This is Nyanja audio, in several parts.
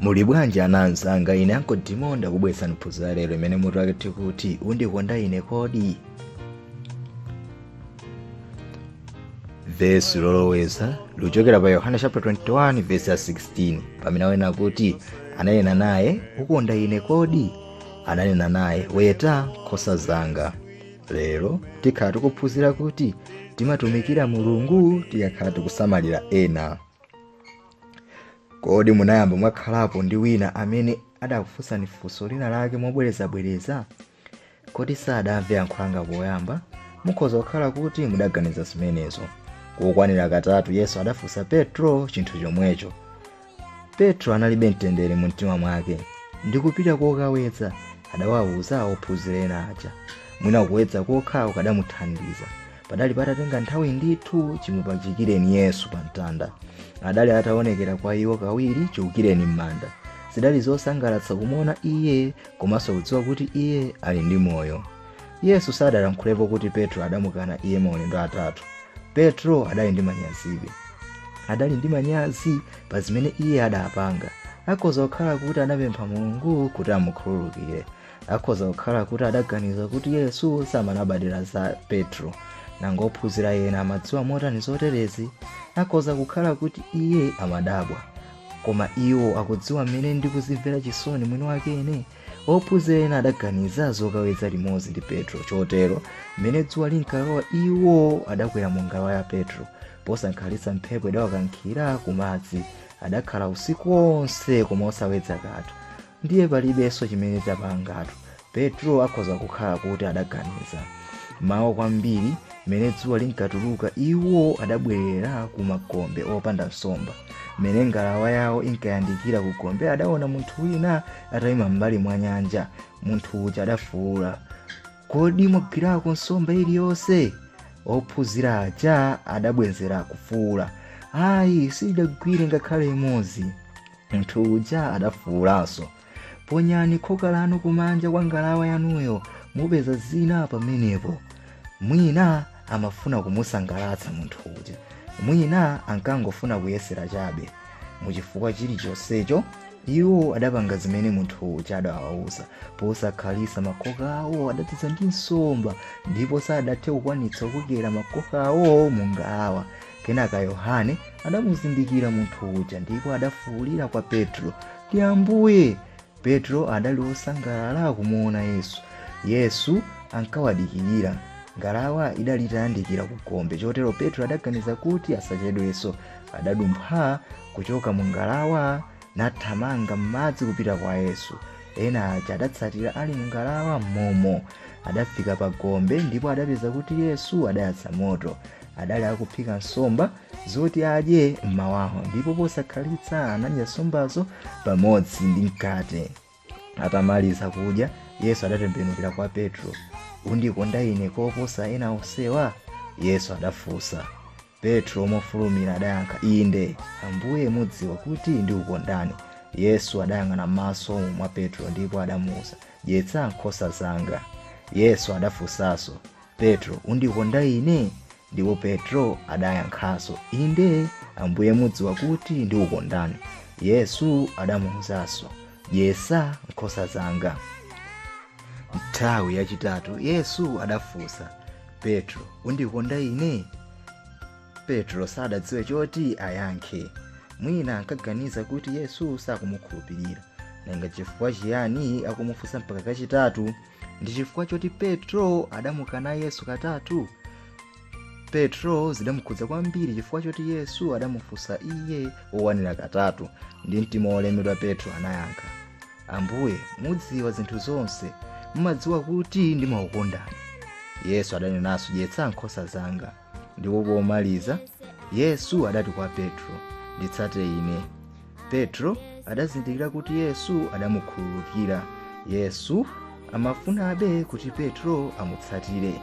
muli bwanji ana anzanga ine Uncle Timo ndakubweretsani phunziro la lero imene mutu wake ukuti undikonda ine kodi vesi loloweza likuchokera pa yohane chapter 21 vesi ya 16 pamene anena kuti ananena naye ukonda ine kodi ananena naye weta nkhosa zanga lero tikhala tikuphunzira kuti timatumikira mulungu tikakhala tikusamalira ena kodi munayamba mwakhalapo ndi wina amene adakufunsani funso lina lake mobwerezabwereza kodi sadamve yankho langa poyamba mukhoza kukhala kuti mudaganiza zimenezo kokwanira katatu yesu adafunsa petro chinthu chomwecho petro analibe mtendere mu mtima mwake ndikupita kokawedza adawawuza ophunzira ena aja mwina kuwedza kokhako kukadamuthandiza padali patatenga nthawi ndithu chimupachikireni yesu pa mtanda adali ataonekera kwa iwo kawiri chiukireni m'manda zidali zosangalatsa kumuona iye komanso kudziwa kuti iye ali ndi moyo yesu sadalankhulepo kuti petro adamukana iye maulendo atatu petro adali ndi manyazibe adali ndi manyazi pa zimene iye adapanga akhoza kukhala kuti anapempha mulungu kuti amukhululukire akhoza kukhala kuti adaganiza kuti yesu samalabadiranso za petro nanga ophunzira ena amadziwa motani zoterezi akhoza kukhala kuti iye amadabwa koma iwo akudziwa mmene ndikuzimvera chisoni mwini wakene ophunzira ena adaganiza zokawedza limodzi ndi petro chotero mmene dzuwa linkalowa iwo adakwera mu ngalawa ya petro posakhalitsa mphepo idawakankhira ku madzi adakhala usiku wonse koma osawedza kanthu ndiye palibenso chimene tapangatu petro akhoza kukhala kuti adaganiza m'mawa kwambiri mmene dzuwa linkatuluka iwo adabwerera ku magombe opanda nsomba mmene ngalawa yawo inkayandikira ku gombe adaona munthu wina atayima m'mbali mwa nyanja munthu uja adafuwula kodi mwagwirako nsomba iliyonse ophunzira aja adabwenzera kufuwula ayi sitinagwire ngakhale imodzi munthu uja adafuwulanso ponyani khoka lanu kumanja kwa ngalawa yanuyo mupeza zina pamenepo mwina amafuna kumusangalatsa munthu uja mwina ankangofuna kuyesera chabe muchifukwa chilichonsecho iwo adapanga zimene munthu uja adawawuza posakhalitsa makoka awo adadzaza ndi nsomba ndipo sadathe kukwanitsa kukokera makoka awo mu ngalawa kenaka yohane adamuzindikira munthu uja ndipo adafuwulira kwa petro ndi ambuye Petro adali wosangalala kumuona Yesu. Yesu ankawadikirira. Ngalawa idali itayandikira ku gombe, chotero Petro adaganiza kuti asachedwenso. Adadumpha kuchoka mu ngalawa nathamanga m'madzi kupita kwa Yesu. Ena aja adatsatira ali mu ngalawa m'momo. Adafika pa gombe ndipo adapeza kuti Yesu adayatsa moto. Adali akuphika nsomba. zoti adye mmawawo ndipo posakhalitsa anadya nsombazo pamodzi ndi mkate atamaliza kudya yesu adatembenukira kwa petro undikonda ine koposa ena onsewa yesu adafunsa petro mofulumira adayankha inde ambuye mudziwa kuti ndikukondani yesu adayang'ana m'maso mwa petro ndipo adamuwuza dyetsa nkhosa zanga yesu adafunsanso petro undikonda ine Ndipo Petro adayankhanso, Inde, Ambuye, mudziwa kuti ndikukondani. Yesu adamuwuzanso, Dyetsa nkhosa zanga. Nthawi yachitatu Yesu adafunsa Petro, undikonda ine? Petro sadadziwe choti ayankhe. Mwina ankaganiza kuti Yesu sakumukhulupirira. Nanga chifukwa chiyani akumufunsa mpaka kachitatu? ndi chifukwa choti petro adamukana yesu katatu petro zidamukhudza kwambiri chifukwa choti yesu adamufunsa iye owanira katatu ndi mtima wolemedwa petro anayankha ambuye mudziwa zinthu zonse mumadziwa kuti ndimakukondani yesu adanenanso dyetsa nkhosa zanga ndipo pomaliza yesu adati kwa petro nditsate ine petro adazindikira kuti yesu adamukhululukira yesu amafunabe kuti petro amutsatire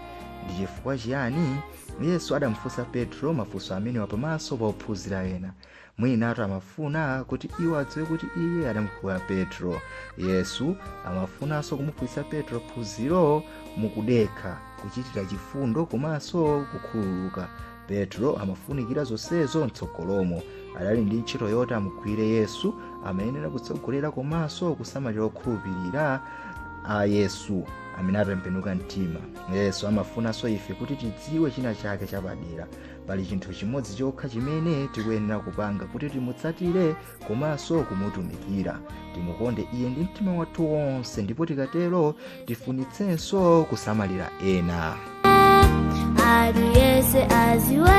ndi chifukwa chiyani yesu adamufunsa petro mafunso amenewa pamaso pa ophunzira ena mwinatu amafuna kuti iwo adziwe kuti iye adamukhululukira petro yesu amafunanso kumuphunzitsa petro phunziro mukudekha kuchitira chifundo komanso kukhululuka petro amafunikira zonsezo mtsogolomo adali ndi ntchito yoti amugwirire yesu amayenera kutsogolera komanso kusamalira okhulupirira a yesu amene atembenuka mtima yesu amafunanso ife kuti tidziwe china chake chapadera pali chinthu chimodzi chokha chimene tikuyenera kupanga kuti timutsatire komanso kumutumikira timukonde iye ndi mtima wathu wonse ndipo tikatero tifunitsenso kusamalira ena aliyese adziwe